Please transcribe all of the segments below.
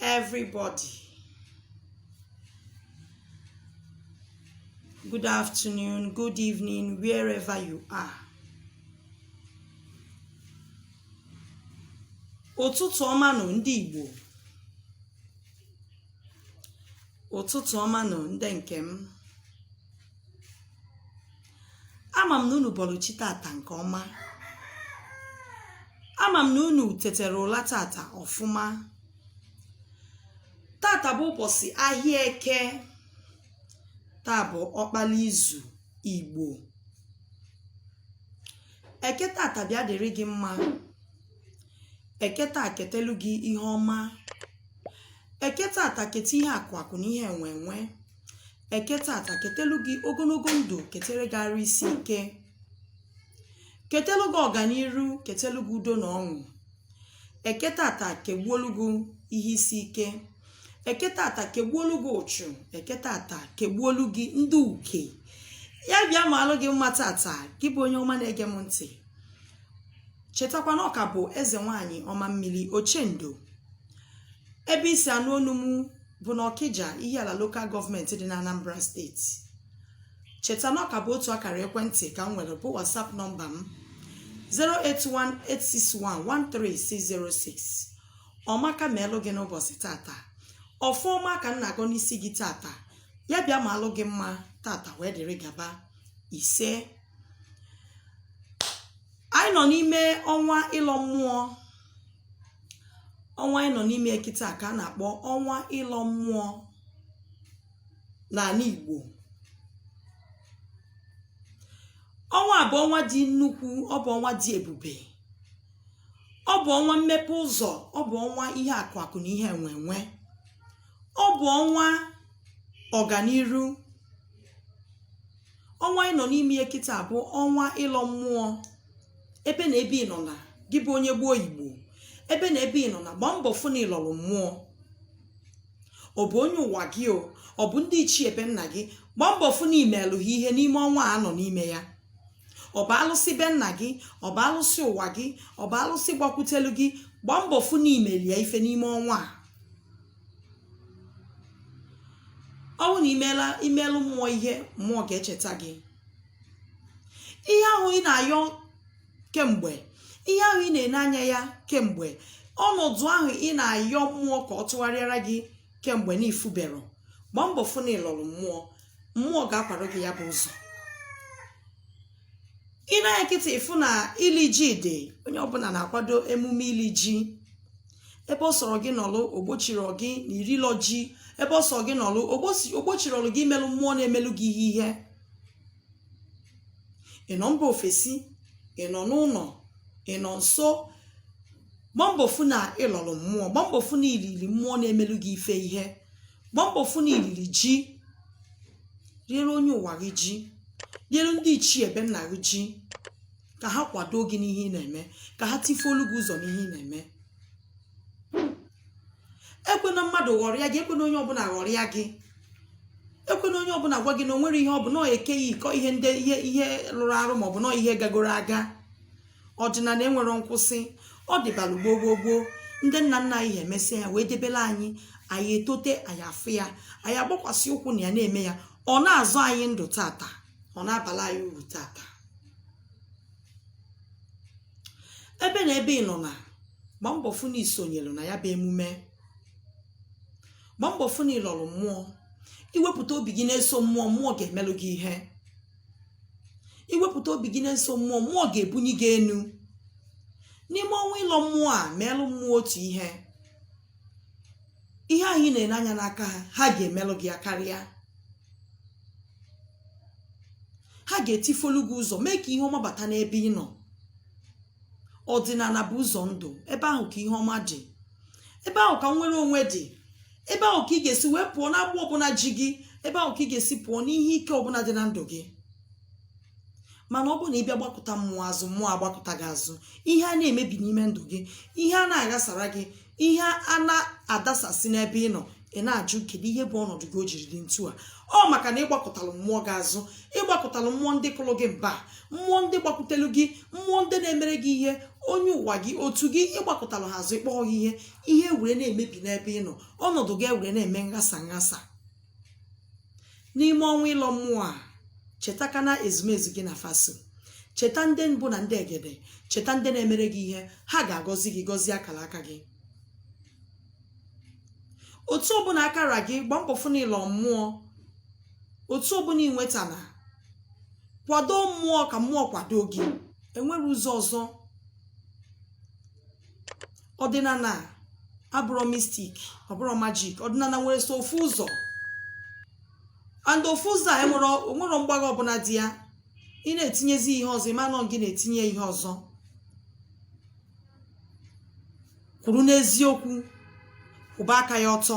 everybody good afternoon good evening wherever you are ụtụtụ ọma nụ ndị igbo ụtụtụ ọma nụ ndị nke m ama m na unu bọlụ chi tata nke ọma ama m na unu tetara ụla tata ọfụma tata bụ ụbọsị ahịa eke taa bụ ọkpala izu igbo eke tata bịa dịrị gị mma eke taa ketelu gị ihe ọma eke tata keta ihe akụ akụ na ihe enwe enwe eke tata ketelu gị ogologo ndụ ketere gị arụ isi ike ketelu gị ọganiru ketelu gị udo na ọṅụ eke tata kegbuolu gị ihe isi ike eke tata kegbuolu gị ụchụ eke tata kegbuolu gị ndị uke ya bịa maalụ gị mma tata gị bụ onye ọma na-ege m ntị chetakwa na ọ ka bụ eze nwanyị ọma mmiri ochendo ebe i si anụ onu m bụ na ọkija ihiala lokal gọọmenti dị na anambra steeti cheta na ọ ka bụ otu akara ekwentị ka m nwere bụ whatsapp nọmba m 08186113606 ọmaka ma elụ gị n'ụbọchị tata ọfọ ọma ka m na-agọ n'isi gị tata ya bịa maalụ gị mma tata wee dịrị gaba isee anyị nọ n'ime ọnwa ịlọ mmụọ ọnwa anyị nọ n'ime kịta ka a na-akpọ ọnwa ịlọ mmụọ n'anị Igbo ọnwa a bụ ọnwa dị nnukwu ọ bụ ọnwa dị ebube ọ bụ ọnwa mmepe ụzọ ọ bụ ọnwa ihe akụ akụ na ihe enwe enwe ọ bụ ọnwa ọganiru ọnwa ị nọ n'ime ya kịta bụ ọnwa ịlọ mmụọ ebe na ebe ị nọna gị bụ onye gboo igbo ebe na ebe ị nọna gbaa mbọ fụ na ị lọrọ mmụọ ọ bụ onye ụwa gị o ọ bụ ndị ichie be nna gị gbaa mbọ fụ na i meelụ ha ihe n'ime ọnwa a nọ n'ime ya ọ bụ alụsị be nna gị ọ bụ alụsị ụwa gị ọ bụ alụsị gbakwutelu gị gbaa mbọ fụ na i melụ ya ife n'ime ọnwa a ọ bụrụ na i meelụ mmụọ ihe mmụọ ga-echeta gị ihe ahụ ị na-ayọ kemgbe ihe ahụ ị na-ene anya ya kemgbe ọnọdụ ahụ ị na-ayọ mmụọ ka ọ tụgharịara gị kemgbe na ị fụberọ gbaa mbọ fụ na ị lọrọ mmụọ mmụọ ga-akwara gị ya bụ ụzọ ị nee anya nkịtị ịfụ na ili ji dị onye ọbụla na-akwado emume ili ji ebe ọ sọrọ gị nọlụ ogbochirọ gị na irilọ ji ebe ọ sọrọ gị nọlụ ogbosi- ogbochirọlụ gị imelụ mmụọ na-emelụ gị ihe ihe ị nọ mba ofesi ị nọ n'ụlọ ị nọ nso gba mbọ fụ na ị lọrọ mmụọ gba mbọ fụ na ilili mmụọ na-emelụ gị ife ihe gba mbọ fụ na ilili ji riere onye ụwa gị ji riere ndị ichie be nna gị ji ka ha kwado gị n'ihe ị na-eme ka ha tifuolu gị ụzọ n'ihe ị na-eme ekwena mmadụ ghọrịa gị ekwena onye ọbụla ghọrịa gị ekwena onye ọbụla gwa gị na o nwerọ ihe ọ bụ na ọ archaic ihe and ihe rụrụ arụ maọbụ na ọ ihe gagoro aga ọdịnala enwerọ nkwụsị ọ dịbara gboo gboo gboo ndị nna nna anyị emesịa ya wee debere anyị anyị etote anyị afụ ya anyị agbakwasị ụkwụ na ya na-eme ya ọ na-azụ anyị ndụ taata ọ na-abala anyị uru taata ebe na ebe ị nọ na gba mbọ fụ na isonyere na ya bụ emume gba mbọ fụ na ịlọrọ mmụọ iwepụta obi gị na-eso mmụọ mmụọ ga-emelụ gị ihe iwepụta obi gị na-eso mmụọ mmụọ ga-ebunye gị enu n'ime ọnwa ịlọ mmụọ a meelụ mmụọ otu ihe ihe ahụ ị na-ele anya n'aka ha ha ga-emelụ gị ya karịa ha ga-etifolu gị ụzọ mee ka ihe ọma bata n'ebe ị nọ ọdịnala bụ ụzọ ndụ ebe ahụ ka ihe ọma dị ebe ahụ ka inwere onwe dị ebe ahụ ka ị ga-esi wee pụọ n'agbụ ọbụla ji gị ebe ahụ ka ị ga-esi pụọ n'ihe ike ọbụla dị na ndụ gị mana ọ bụrụ na ị bịa gbakụta mmụọ azụ mmụọ agbakụta gị azụ ihe a na-emebi n'ime ndụ gị ihe a na-aghasara gị ihe a na-adasasị n'ebe ị nọ ị na-ajụ kedu ihe bụ ọnọdụ gị o jiri dị ntu a ọ maka na ịgbakụtalụ mmụọ gị azụ ịgbakụtalụ mmụọ ndị kụrụ gị mba mmụọ ndị gbakwutelu gị mmụọ ndị na-emere gị ihe onye ụwa gị otu gị ịgbakụtalụ ha azụ ịkpọọ gị ihe ihe were na-emebi n'ebe ị nọ ọnọdụ gị were na-eme nghasa nghasa n'ime ọnwa ịlọ mmụọ a cheta ka na ezumezu gị na fa so cheta ndị mbụ na ndị egede cheta ndị na-emere gị ihe ha ga-agọzi gị gọzie akara aka gị otu ọbụla aka ra gị gba mbọ fụ n'ịlọ mmụọ otu ọbụla inwetana kwado mmụọ ka mmụọ kwado gị enwerọ ụzọ ọzọ ọdịnala abụrọ mystic ọbụrọ magic ọdịnala nwere sọ ofu ụzọ and ofu ụzọ a enwerọ onwerọ mgbagha ọbụla dị ya ị na-etinyezi ihe ọzọ ịma na ọ gị na-etinye ihe ọzọ kwụrụ n'eziokwu kwụba aka gị ọtọ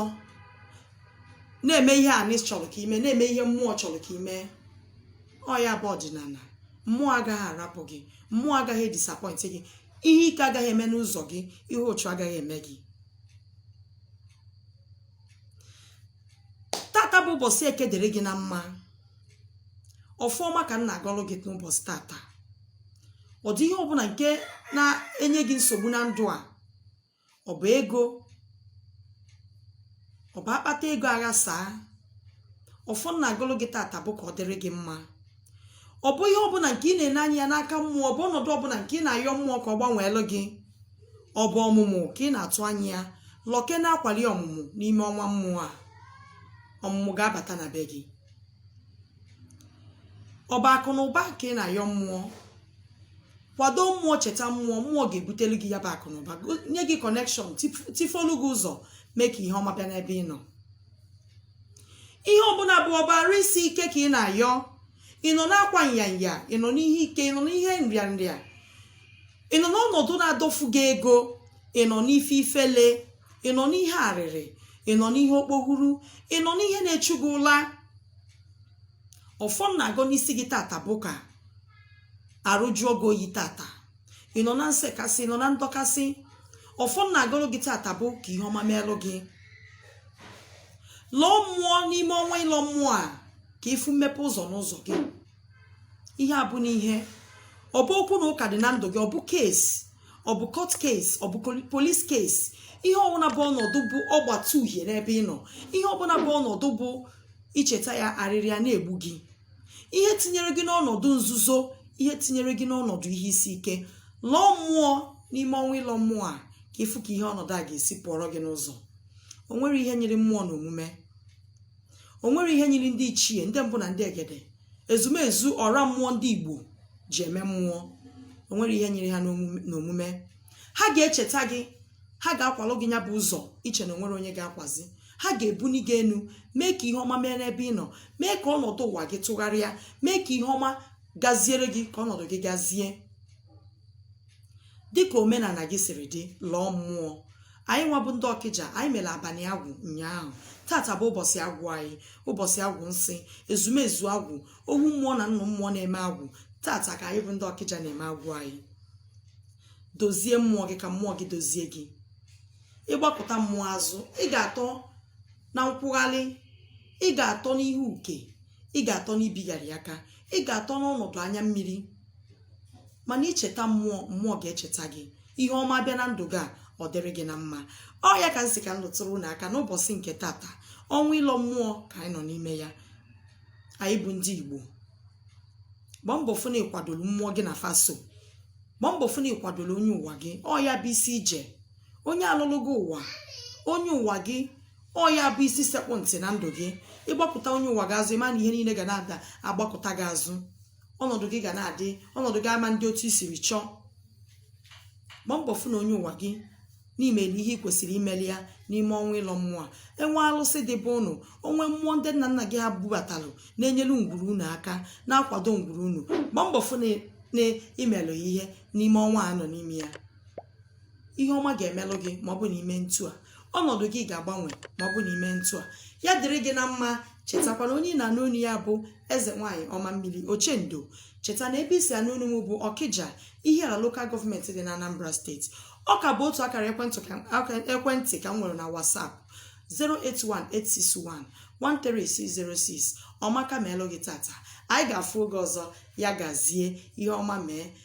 na-eme ihe anị chọrọ ka i mee na-eme ihe mmụọ chọrọ ka i mee ọ ya bụ ọdịnana mmụọ agaghị arapụ gị mmụọ agaghị edisappoint gị ihe ike agaghị eme n'ụzọ gị ihe ọchụ agaghị eme gị tata bụ ụbọsị eke dịrị gị na mma ọfọ ọma ka m na-agọlụ gị n'ụbọsị tata ọ dị ihe ọbụna nke na-enye gị nsogbu na ndụ a ọ bụ ego ọ bụ akpata ego aghasaa ọfọ m na-agọlụ gị tata bụ ka ọ dịrị gị mma ọ bụ ihe ọbụna nke ị na-ene anya ya n'aka mmụọ ọ bụ ọnọdụ ọbụna nke ị na-ayọ mmụọ ka ọ gbanweelụ gị ọ bụ ọmụmụ ka ị na-atụ anya ya lọke na akwali ọmụmụ n'ime ọnwa mmụọ a ọmụmụ ga-abata na be gị ọ bụ akụ na ụba ka ị na-ayọ mmụọ kwado mmụọ cheta mmụọ mmụọ ga-ebutelu gị ya bụ akụ na ụba go- nye gị connection tifolu gị ụzọ mee ka ihe ọma bịa n'ebe ị nọ ihe ọbụna bụ ọ bụ arụ isi ike ka ị na-ayọ ị nọ n'akwa nyanya ị nọ n'ihe ike ị nọ n'ihe nrịanrịa ị nọ n'ọnọdụ na-adọfu gị ego ị nọ n'ife ifele ị nọ n'ihe arịrị ị nọ n'ihe okpohuru ị nọ n'ihe na-echu gị ụla ọfọ m na-agọ n'isi gị tata bụ ka arụ jụọ gị oyi tata ị nọ na nsekasị ị nọ na ndọkasị ọfọ m na-agọrọ gị tata bụ ka ihe ọma meelụ gị lọọ mmụọ n'ime ọnwa ịlọ mmụọ a ka ị fụ mmepe ụzọ n'ụzọ gị ihe ọbụna ihe ọ bụ okwu na ụka dị na ndụ gị ọ bụ case ọ bụ court case ọ bụ police case ihe ọbụna bụ ọnọdụ bụ ọgbata uhie n'ebe ị nọ ihe ọbụna bụ ọnọdụ bụ i cheta ya arịrị ya na-egbu gị ihe tinyere gị n'ọnọdụ nzuzo ihe tinyere gị n'ọnọdụ ihe isi ike lọọ mmụọ n'ime ọnwa ịlọ mmụọ a ka ị fụ ka ihe ọnọdụ a ga-esi pụọrọ gị n'ụzọ o nwere ihe nyiri mmụọ n'omume o nwere ihe nyiri ndị ichie ndị mbụ na ndị egede ezumezu ọra mmụọ ndị igbo ji eme mmụọ o nwere ihe nyiri ha n'omume ha ga-echeta gị ha ga-akwalụ gị ya bụ ụzọ i che na o nwere onye ga-akwazi ha ga-ebuni gị enu mee ka ihe ọma mee n'ebe ị nọ mee ka ọnọdụ ụwa gị tụgharịa mee ka ihe ọma gaziere gị ka ọnọdụ gị gazie dịka omenana gị siri dị lọọ mmụọ anyị nwa bụ ndị ọkịja anyị mere abanị agwụ ụnyaahụ tata bụ ụbọsị agwụ anyị ụbọsị agwụ nsị ezumezu agwụ ohu mmụọ na nnụ mmụọ na-eme agwụ tata ka anyị bụ ndị ọkịja na-eme agwụ anyị dozie mmụọ gị ka mmụọ gị dozie gị ị gbakụta mmụọ azụ ị ga-atọ na nkwụgharị ị ga-atọ n'ihe uke ị ga-atọ n'ibigharị aka ị ga-atọ n'ọnọdụ anya mmiri mana i cheta mmụọ mmụọ ga-echeta gị ihe ọma bịa na ndụ gị a ọ dịrị gị na mma ọ ya ka m sị ka m lụtụrụ unu aka n'ụbọsị nke tata ọnwa ịlọ mmụọ ka anyị nọ n'ime ya anyị bụ ndị igbo gbaa mbọ fụ na ị kwadolu mmụọ gị na fa so gbaa mbọ fụ na ị kwadolu onye ụwa gị ọ ya bụ isi ije onye a lọlụ gị ụwa onye ụwa gị ọ ya bụ isi sekpụ ntị na ndụ gị ị gbakụta onye ụwa gị azụ ị ma na ihe niile ga na-adị agbakụta gị azụ ọnọdụ gị ga na-adị ọnọdụ gị ama na-adị otu i siri chọọ gba mbọ fụ na onye ụwa gị na i mee ihe ị kwesịrị imelụ ya n'ime ọnwa ịlọ mmụọ a e nwee alụsị dị be unu o nwee mmụọ ndị nna nna gị ha bubatalụ na-enyelu ngwuru unu aka na-akwado ngwuru unu gba mbọ fụ na i melụ ya ihe n'ime ọnwa a nọ n'ime ya ihe ọma ga-emelụ gị ma ọ bụ na i mee ntu a ọnọdụ gị ga-agbanwe ma ọ bụ na i mee ntu a ya dịrị gị na mma chetakwa na onye ị na-anụ onu ya bụ eze nwaanyị ọma mmiri ochendo cheta na ebe i si anụ onu m bụ ọkịja ihiala local government dị na anambra state ọ ka bụ otu akara ekwentị ka- aka- ekwentị ka m nwere na whatsapp 08186113606 ọma ga-emelụ gị tata anyị ga-afụ oge ọzọ ya gazie ihe ọma mee